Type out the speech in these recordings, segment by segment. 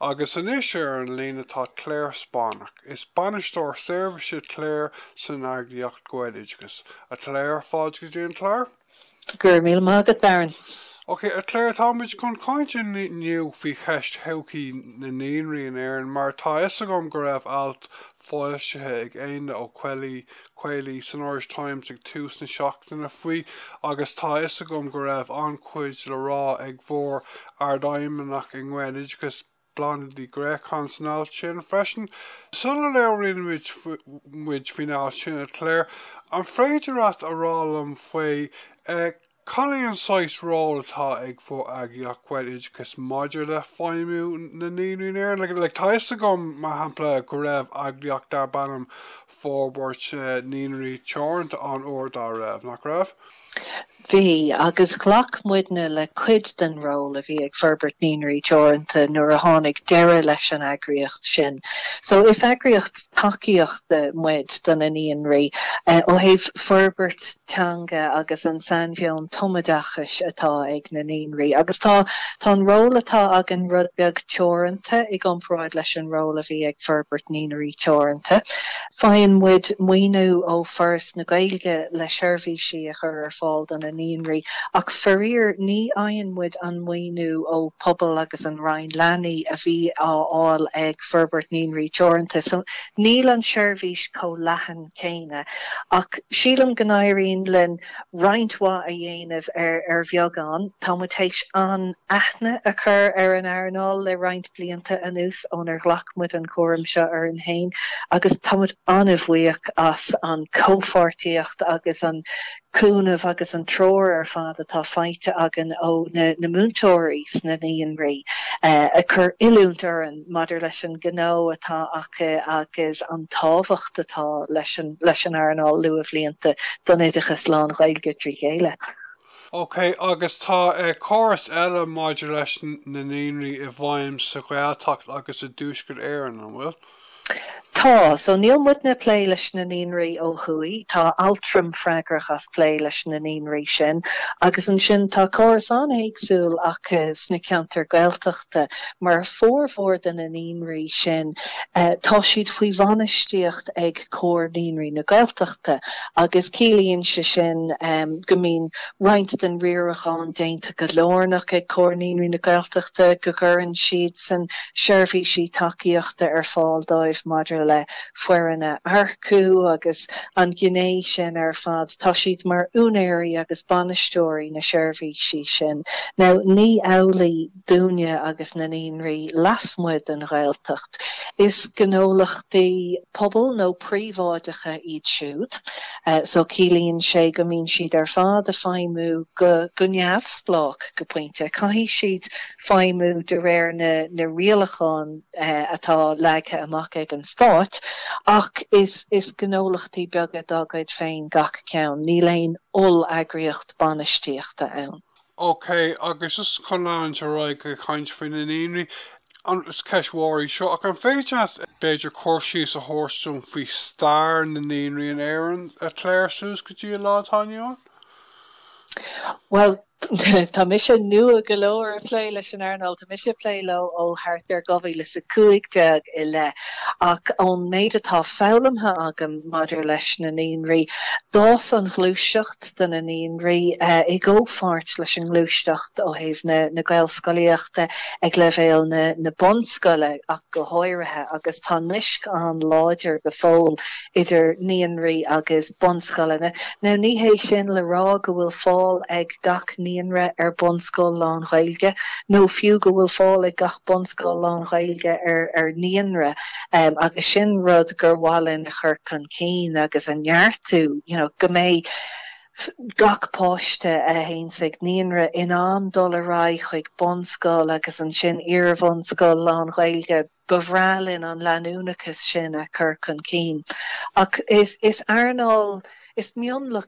Agus anois ar an líne tá Clare Spáinneach. Is Bainisteoir Seirbhíse Clare san eagraíocht Gaeloideachas. A Clare, fáilte go dtí an clár. Go raibh míle maith agat, Darren. Ok, a Clare, táimid chun caint inniu faoi cheist thodhchaí na naíonraí in Éirinn, mar tá fhios agam go raibh alt foilsithe ag Éanna Ó Caollaí, Caollaí, san Irish Times ag tús na seachtaine faoi agus tá a fhios agam go raibh an-chuid le rá ag bhur ardfheidhmeannach i nGaeloideachas, Bláthnaid Ní Ghréacháin, san alt sin freisin. Sula labhraíonn muid faoin alt sin, a Clare, an féidir leat a rá liom faoi eh. Cad é an saghas ról atá ag bhur eagraíocht, Gaeloideachas, maidir le feidhmiú na Naíonraí in Éirinn? Tá a fhios agam, mar shampla, go raibh eagraíocht darb ainm Forbairt Naíonraí Teoranta ann uair dá raibh, nach raibh? Bhí, agus ghlac muidne le cuid den ról a bhí ag Forbairt Naíonraí Teoranta nuair a tháinig deireadh leis an eagraíocht sin. So is eagraíocht tacaíochta. muid do na naíonraí. Ó thaobh forbairt teanga agus an sainmheon tumoideachais atá ag na naíonraí agus tá tá an ról atá againn rud beag teoranta i gcomparáid leis an ról a bhí ag Forbairt Naíonraí Teoranta. Faigheann muid maoiniú ó Foras na Gaeilge le seirbhísí a chur ar fáil do na naíonraí ach faraor ní fhaigheann muid an maoiniú ó Pobal agus an Roinn Leanaí a bhí á fháil ag Forbairt Naíonraí Teoranta. Níl an seirbhís chomh leathan céanna ach sílim go n-éiríonn linn roinnt mhaith a dhéanamh ar bheagán. Tá muid théis an-aithne a chur ar an earnáil le roinnt blianta anuas ónar ghlac muid an cúram seo orainn féin agus tá muid an-bhuíoch as an chomhpháirtíocht agus an cúnamh agus an treoir ar fad atá faighte againn ó na múinteoirí sna naíonraí ag cur oiliúint orainn maidir leis an ngnó atá acu agus an tábhacht atá leis an earnáil luathbhlianta don oideachas lán-Ghaeilge trí chéile. OK, agus tá córas eile maidir leis na naíonraí i bhfeidhm sa Ghaeltacht agus i dTuaisceart Éireann, an bhfuil? Tá, so níl muidne ag plé leis na naíonraí ó thuaidh, tá Altram freagrach as plé leis na naíonraí sin agus ansin tá córas an-éagsúil acu sna ceantair Gaeltachta mar formhór de na naíonraí sin tá siad faoi bhainistíocht ag Comhar Naíonraí na Gaeltachta agus ciallaíonn sé sin go mbíonn roinnt den riarachán déanta go lárnach ag Comhar Naíonraí na Gaeltachta, go gcuireann siadsan seirbhísí tacaíochta ar fáil dóibh maidir le foireann a earcú agus an ghné sin ar fad, tá siad mar úinéirí agus bainisteoirí na seirbhísí sin. Now ní amhlaidh. dúinne agus na naíonraí lasmuigh den Ghaeltacht. Is gnólachtaí pobail nó príobháideacha iad siúd so ciallaíonn sé go mbíonn siad ar fad ag feidhmiú go neamhspleách go pointe. Caithfidh siad feidhmiú de réir na rialachán atá leagtha amach ag an Stát ach is gnólachtaí beaga dá gcuid féin gach ceann. Níl aon oll-eagraíocht bainistíochta ann. OK, agus just chun leanúint ar aghaidh ag caint faoi na naíonraí, is ceist mhór í seo, ach an féidir leat b'fhéidir cur síos a thabhairt dúinn faoi stair na naíonraí in Éirinn, a Clare, suas go dtí an lá atá inniu ann? Bhuel, tá mise nua go leor ag plé leis an earnáil, tá mise ag plé leo ó thart ar 2015 i leith, ach ón méid atá foghlamtha agam maidir leis na naíonraí, d'fhás an ghluaiseacht, do na naíonraí, i gcomhpháirt leis an ngluaisteacht ó thaobh na gaelscolaíochta ag leibhéal na bunscoile ach go háirithe agus tá naisc an-láidir go fóill idir naíonraí agus bunscoileanna. Now ní hé sin le rá go bhfuil fáil ag gach naíonra ar bunscoil lán-Ghaeilge nó fiú go bhfuil fáil ag gach bunscoil lán-Ghaeilge ar naíonra agus sin rud gur mhaith linn a chur chun cinn agus a neartú, you know go mbeidh gach páiste a théann chuig naíonra in ann dul ar aghaidh chuig bunscoil agus ansin iarbhunscoil lán-Ghaeilge. Ba bhreá linn an leanúnachas sin a chur chun cinn ach is earnáil, is mionlach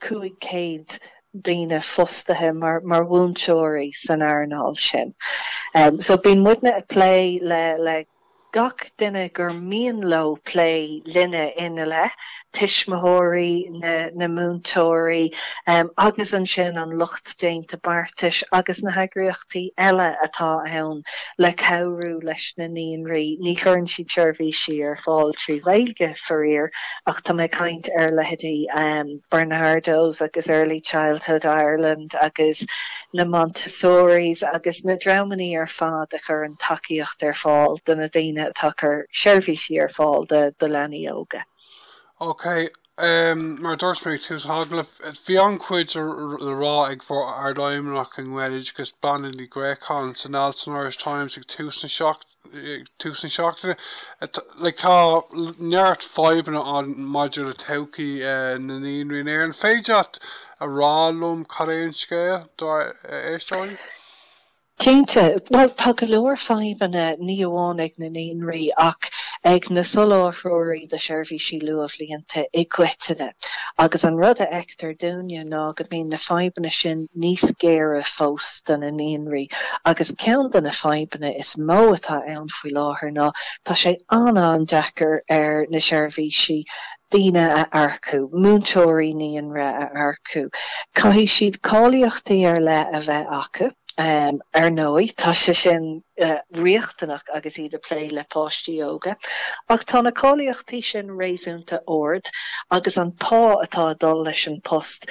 500 daoine fostaithe mar mhúinteoirí san earnáil sin so bíonn muidne ag plé le gach duine gur mian leo plé linne ina leith, tuismitheoirí na múinteoirí agus ansin an lucht déanta beartais agus na heagraíochtaí eile atá ann le cabhrú leis na naíonraí. Ní chuireann siad seirbhísí ar fáil trí Ghaeilge. faraor, ach tá mé ag caint ar leithéidí Barnardo's agus Early Childhood Ireland agus na Montessoris agus na dreamannaí ar fad a chuireann tacaíocht ar fáil do na daoine atá ag cur seirbhísí ar fáil do leanaí óga. Ok, mar a dúirt mé ag tús an agallaimh, bhí an-chuid le rá ag bhur ardfheidhmeannach i nGaeloideachas, Bláthnaid Ní Ghréacháin, san alt san Irish Times ag tús na seachtaine. ag tús na seachtaine. Tá neart fadhbanna ann maidir le todhchaí na naíonraí in Éirinn. An féidir leat a rá liom cad é an scéal dár n-éisteoirí? Cinnte. Bhuel, tá go leor fadhbanna, ní amháin ag na naíonraí ach ag na soláthróirí do sheirbhísí luathbhlianta i gcoitinne. Agus an rud a fheiceann. fheictear dúinne ná go mbíonn na fadhbanna sin níos géire fós do na naíonraí agus ceann de na fadhbanna is mó atá ann faoi láthair ná tá sé an-an-deacair ar na seirbhísí daoine a earcú, múinteoirí naíonra a earcú. Caithfidh siad cáilíochtaí ar leith a bheith acu. Ar ndóigh, tá sé sin riachtanach agus iad ag plé le páistí óga ach tá na cáilíochtaí sin réasúnta ard agus an pá atá ag dul leis an post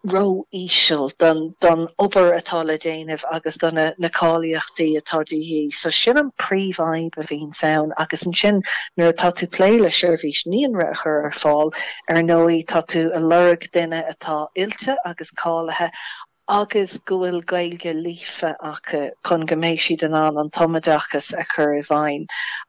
ró-íseal don obair atá le déanamh agus do na cáilíochtaí atá de dhíth. So sin an príomhfhadhb a bhíonns ann agus ansin nuair atá tú ag plé le seirbhís naíonra a chur ar fáil, ar ndóigh tá tú ag lorg duine atá oilte agus cáilithe, agus go bhfuil Gaeilge líofa acu chun go mbeidh siad in ann an tumoideachas a chur i bhfeidhm.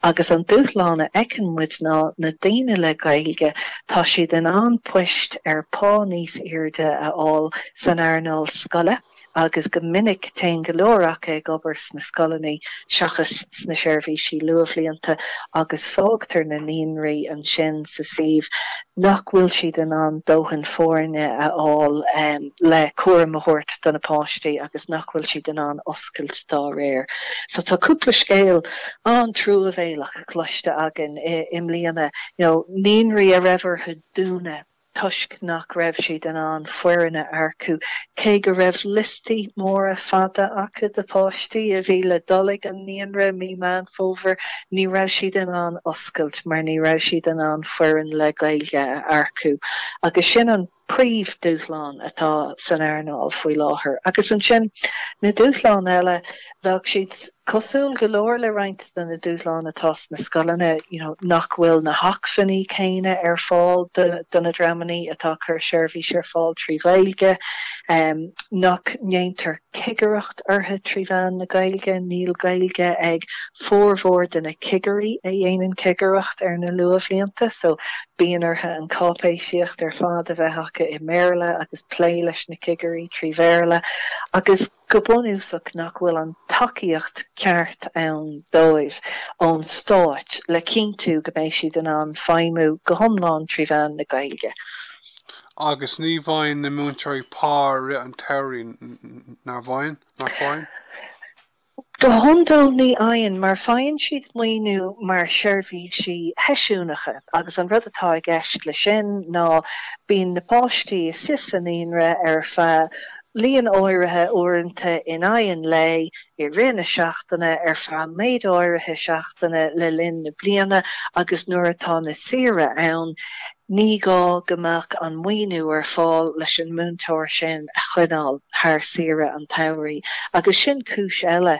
Agus an dúshlán a fheiceann muid ná na daoine le Gaeilge, tá siad in ann poist ar phá níos airde a fháil san earnáil scoile agus go minic téann go leor acu ag obair sna scoileanna seachas sna seirbhísí luathbhlianta agus fágtar na naíonraí ansin sa suíomh. nach bhfuil siad in ann dóthain foirne a fháil le cúram a thabhairt do na páistí agus nach bhfuil siad in ann oscailt dá réir. So tá cúpla scéal an-truamhéalach cloiste againn i mbliana, you know naíonraí a raibh orthu dúnadh toisc nach raibh siad in ann foireann a earcú cé go raibh liostaí móra fada acu de pháistí a bhí le dul ag an naíonra mí Meán Fómhair. Ní raibh siad in ann oscailt mar ní raibh siad in ann foireann le Gaeilge a earcú agus sin an príomh dúshlán atá san earnáil faoi láthair. Agus ansin na dúshláin eile. Bheadh siad cosúil go leor le roinnt de na dúshláin atá sna scoileanna, you know nach bhfuil na hacmhainní céanna ar fáil do na dreamanna atá ag cur seirbhís ar fáil trí Ghaeilge, nach ndéantar cigireacht orthu trí mheán na Gaeilge, níl Gaeilge ag formhór de na cigirí a dhéanann cigireacht ar na luathbhlianta, so bíonn orthu an cháipéisíocht ar fad a bheith acu i mBéarla agus plé leis na cigirí trí Bhéarla agus. Go bunúsach nach bhfuil an tacaíocht cheart ann dóibh ón stát le cinntiú go mbeidh siad in ann feidhmiú go hiomlán trí mheán na Gaeilge. Agus ní bhfaigheann na múinteoirí pá i rith an tsamhraidh, nach bhfaigheann? Nach bhfaigheann? Go hiondúil ní fhaigheann mar faigheann siad maoiniú mar sheirbhísí sheisiúnacha agus an rud atá i gceist leis sin ná bíonn na páistí istigh sa naíonra ar feadh líon áirithe uaireanta in aghaidh an lae, i rith na seachtaine, ar feadh méid áirithe seachtaine le linn na bliana agus nuair atá na saoire ann, ní gá go mbeadh an maoiniú ar fáil leis an múinteoir sin a choinneáil thar saoire an tsamhraidh agus sin cúis eile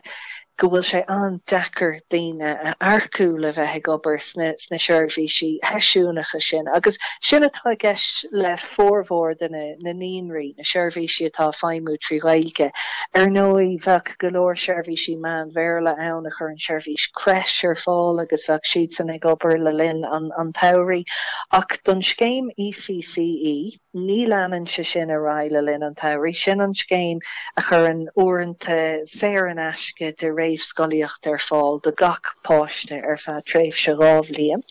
go bhfuil sé an-deacair daoine a earcú le bheith ag obair sna seirbhísí sheisiúnacha sin agus sin atá i gceist le formhór de na na naíonraí, na seirbhísí atá ag feidhmiú trí Ghaeilge. Ar ndóigh, bheadh go leor seirbhísí meán-Bhéarla ann a chuireann seirbhís crèche ar fáil agus bheadh siadsan ag obair le linn an tsamhraidh ach don scéim ECCE, ní leanann sé sin ar aghaidh le linn an tsamhraidh. Sin an scéim a chuireann uaireanta saor in aisce do réamhscolaíocht ar fáil do gach páiste ar feadh tréimhse dhá bhliain.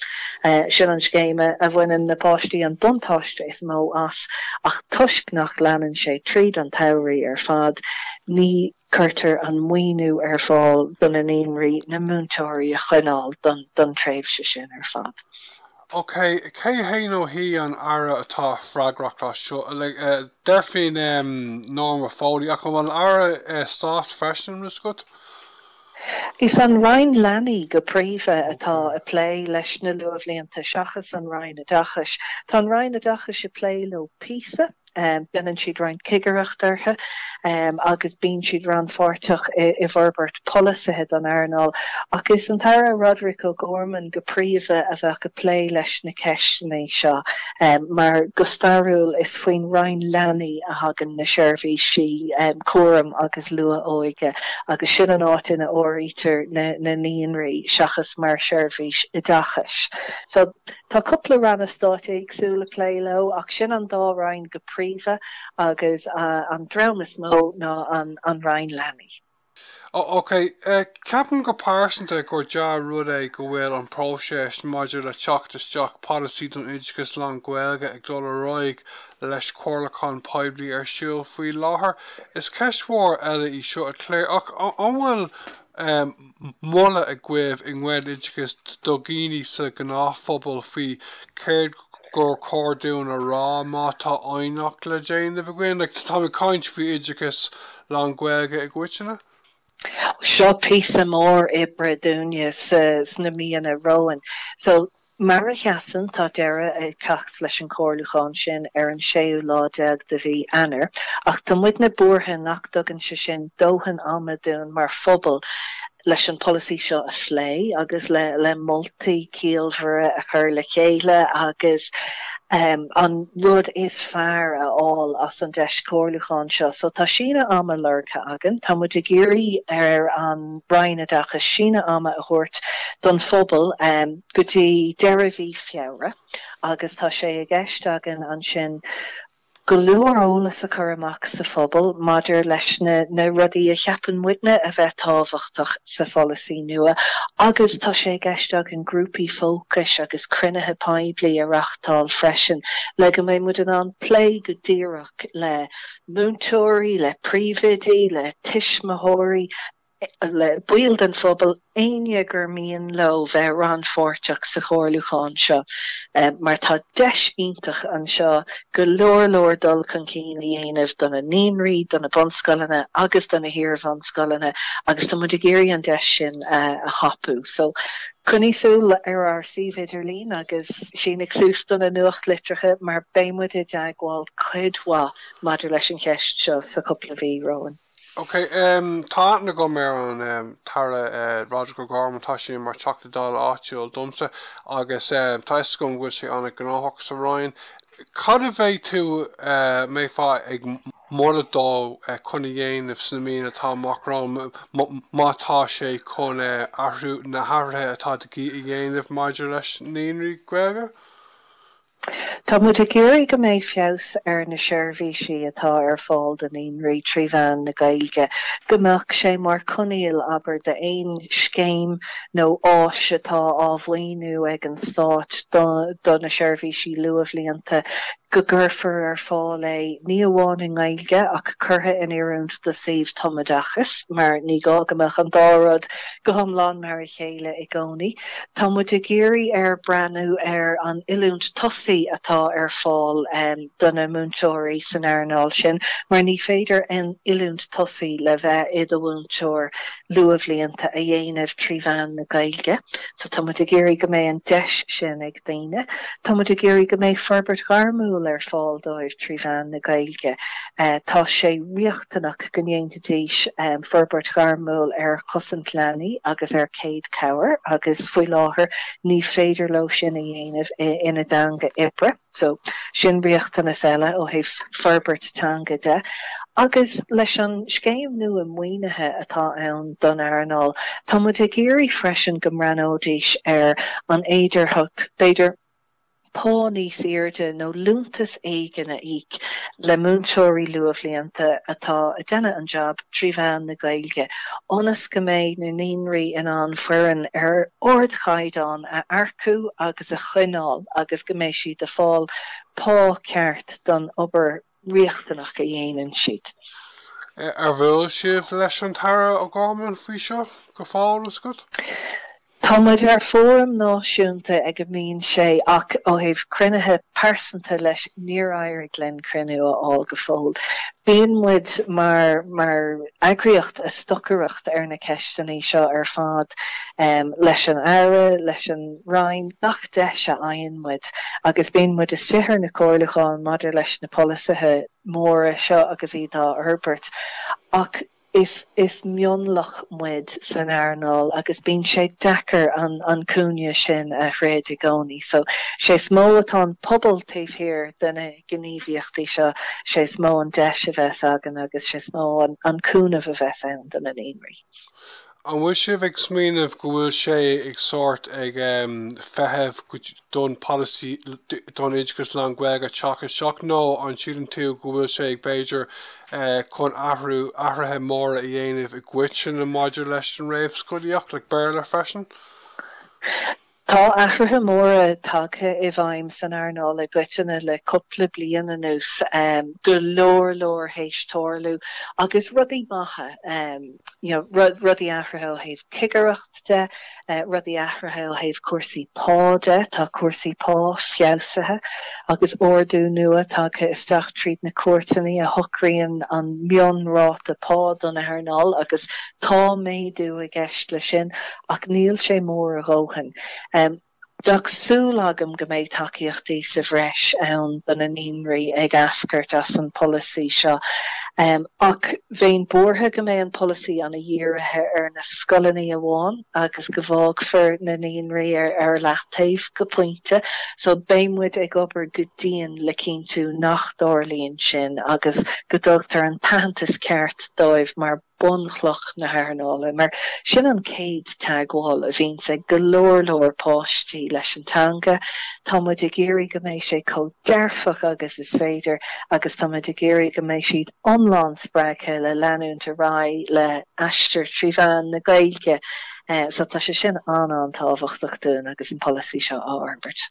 Sin an scéim a bhaineann na páistí an buntáiste is mó as ach toisc nach leanann sé tríd an tsamhraidh ar fad, ní. cuirtear an maoiniú ar fáil do na naíonraí, na múinteoirí a choinneáil don tréimhse sin ar fad. Ok, cé hé nó hí an tAire atá freagrach as seo? Deirfinn Norma Foley, ach an bhfuil Aire Stáit freisin i gceist? Is an Roinn Leanaí go príomha atá ag plé leis na luathbhlianta seachas an Roinn Oideachais. Tá an Roinn Oideachais ag plé leo píosa déanann siad roinnt cigireacht orthu agus bíonn siad rannpháirteach i bhforbairt polasaithe don earnáil. Ach is an tAire Roderic O'Gorman go príomha a bheadh ag plé leis na ceisteanna seo mar, go stairiúil, is faoin Roinn Leanaí a thagann na seirbhísí cúraim agus luath-óige agus sin an áit ina áirítear na naíonraí seachas mar sheirbhís oideachais. So, Tá cúpla ranna stáit éagsúla ag plé leo ach sin an dá roinn go príomha agus an dream is mó ná an Roinn Leanaí. OK. Ceapaim go pearsanta gur dea-rud é go bhfuil an próiseas maidir le teacht isteach polasaí don oideachas lán-Ghaeilge ag dul ar aghaidh leis comhairliúchán poiblí ar siúl faoi láthair. Is ceist mhór eile í seo a Clare ach an bhfuil moladh agaibh i nGaeloideachas do dhaoine sa ghnáthphobal faoi chéard gur chóir dúinn a rá má tá aighneacht le déanamh againn? Like, táim ag caint faoi oideachas lán-Ghaeilge i gcoitinne. Seo píosa mór oibre dúinne sna míonna romhainn. Mar a sheasann, tá deireadh ag teacht leis an chomhairliúchán sin ar an séú lá déag de mhí Eanáir, ach tá muidne buartha nach dtugann sé sin dóthain ama dúinn mar phobal leis an pholasaí seo a phlé agus le moltaí ciallmhara a chur le chéile agus an rud is fearr a fháil as an deis comhairliúcháin seo. So tá síneadh ama lorgtha againn. Tá muid ag iarraidh ar an. Roinn Oideachais síneadh ama a thabhairt don phobal go dtí deireadh mhí Feabhra agus tá sé i gceist againn ansin go leor eolas a chur amach sa phobal maidir leis na rudaí a cheapann muidne a bheith tábhachtach sa pholasaí nua agus tá sé i gceist againn grúpaí fócais agus cruinnithe poiblí a reáchtáil freisin le go mbeidh muid in ann plé go díreach le múinteoirí, le príomhoidí, le tuismitheoirí, le baill den phobal, éinne gur mian leo bheith rannpháirteach sa chomhairliúchán seo mar tá deis iontach anseo go leor leor dul chun cinn a dhéanamh do na naíonraí, do na bunscoileanna agus do na hiarbhunscoileanna agus tá muid ag iarraidh an deis sin a thapú. Coinnigh súil ar ár suíomh idirlín agus sínigí suas do na nuachtlitreacha mar beidh muid i dteagmháil cuid mhaith maidir leis an cheist seo sa chúpla mhí romhainn. Ok, tá aithne agam ar an tAire Roderic O'Gorman, tá sé mar Teachta Dála áitiúil domsa agus tá fhios agam go bhfuil sé ana-ghnóthach sa Roinn. Cad a bheidh tú, mbeifeá ag. moladh dó chun a dhéanamh sna míonna atá amach romhainn má tá sé chun athrú na hathruithe atá de dhíth a dhéanamh maidir leis na naíonraí Gaeilge. Tá muid ag iarraidh go mbeidh feabhas ar na seirbhísí atá ar fáil do naíonraí trí mheán na Gaeilge, go mbeadh sé mar choinníoll, abair, d'aon scéim nó áis atá á mhaoiniú ag an Stáit do na seirbhísí luathbhlianta. go gcuirfear ar fáil é ní amháin i nGaeilge ach curtha in oiriúint do suíomh tumoideachais mar ní gá go mbeadh an dá rud go hiomlán mar a chéile i gcónaí. Tá muid ag iarraidh air breathnú ar an oiliúint tosaigh atá ar fáil do na múinteoirí san earnáil sin mar ní féidir an oiliúint tosaigh le bheith i do mhúinteoir luathbhlianta a dhéanamh trí mheán na Gaeilge. So tá muid ag iarraidh go mbeidh an deis sin ag daoine. Tá muid ag iarraidh go mbeidh forbairt ghairmiúil ar fáil dóibh trí mheán na Gaeilge. Tá sé riachtanach go ndéanfaidís forbairt ghairmiúil ar chosaint leanaí agus ar chéad chabhair agus faoi láthair ní féidir leo sin a dhéanamh ina dteanga oibre. So, sin riachtanas eile ó thaobh forbairt teanga de. Agus leis an scéim nua maoinithe atá ann don earnáil, tá muid ag iarraidh freisin go mbreathnóidís ar an fhéidearthacht, b'fhéidir, pá níos airde nó liúntas éigin a íoc le múinteoirí luathbhlianta atá ag déanamh an jab trí mheán na Gaeilge, ionas go mbeidh na naíonraí in ann foireann ar ardchaighdeán a earcú agus. a choinneáil agus go mbeidh siad a fáil pá ceart don obair riachtanach a dhéanann siad. An bhfuil sibh leis an tAire O'Gorman faoi seo go fóill, a Scott? Tá muid ar fóram náisiúnta ag a mbíonn sé ach ó thaobh cruinnithe pearsanta leis níor éirigh linn cruinniú a fháil go fóill. Bíonn muid mar mar eagraíocht a stocaireacht ar na ceisteannaí seo ar fad leis an Aire, leis an. Roinn gach deis a fhaigheann muid agus bíonn muid istigh ar na comhairliúcháin maidir leis na polasaithe móra seo agus iad á fhorbairt ach is is mionlach muid san earnáil agus bíonn sé deacair an an cúinne sin a throid i gcónaí. So sé is mó atá an pobal taobh thiar de na gníomhaíochtaí seo, sé is mó an deis a bheas againn agus sé is mó an cúnamh a bheas ann do na naíonraí. An bhfuil sibh ag smaoineamh go bhfuil sé ag sórt ag feitheamh don polasaí don oideachas lán Gaeilge teach isteach nó an síleann tú go bhfuil sé ag b'fhéidir chun athrú athruithe móra a dhéanamh i gcoitinne maidir leis an réamhscolaíocht le Béarla freisin? Tá athruithe móra tagtha i bhfeidhm san earnáil i gcoitinne le cúpla bliain anuas, go leor leor théis tarlú agus rudaí maithe, you know, rudaí athruithe ó thaobh cigireacht de, rudaí athruithe ó thaobh cúrsaí pá de, tá cúrsaí pá feabhsaithe agus ardú nua tagtha isteach tríd na cúirteannaí a shocraíonn an mionráta pá don earnáil agus Tá méadú i gceist leis sin ach níl sé mór a dhóthain. Bheadh súil agam go mbeidh tacaíochtaí sa bhreis ann do na naíonraí ag eascairt as an polasaí seo ach bheinn buartha go mbeidh an polasaí ana dhírithe ar na scoileannaí amháin agus go bhfágfar na naíonraí ar leataobh go pointe. So beidh muid ag obair go dian le cinntiú nach dtarlaíonn sin agus go dtugtar an t-aitheantas ceart dóibh mar. bunchloch na hearnála mar sin an chéad teagmháil a bhíonns ag go leor leor páistí leis an teanga. Tá muid ag iarraidh go mbeidh sé chomh dearfach agus is féidir agus tá muid ag iarraidh go mbeidh siad iomlán spreagtha le leanúint ar aghaidh le aistear trí mheán na Gaeilge so tá sé sin an-an-tábhachtach dúinn agus an polasaí seo á fhorbairt.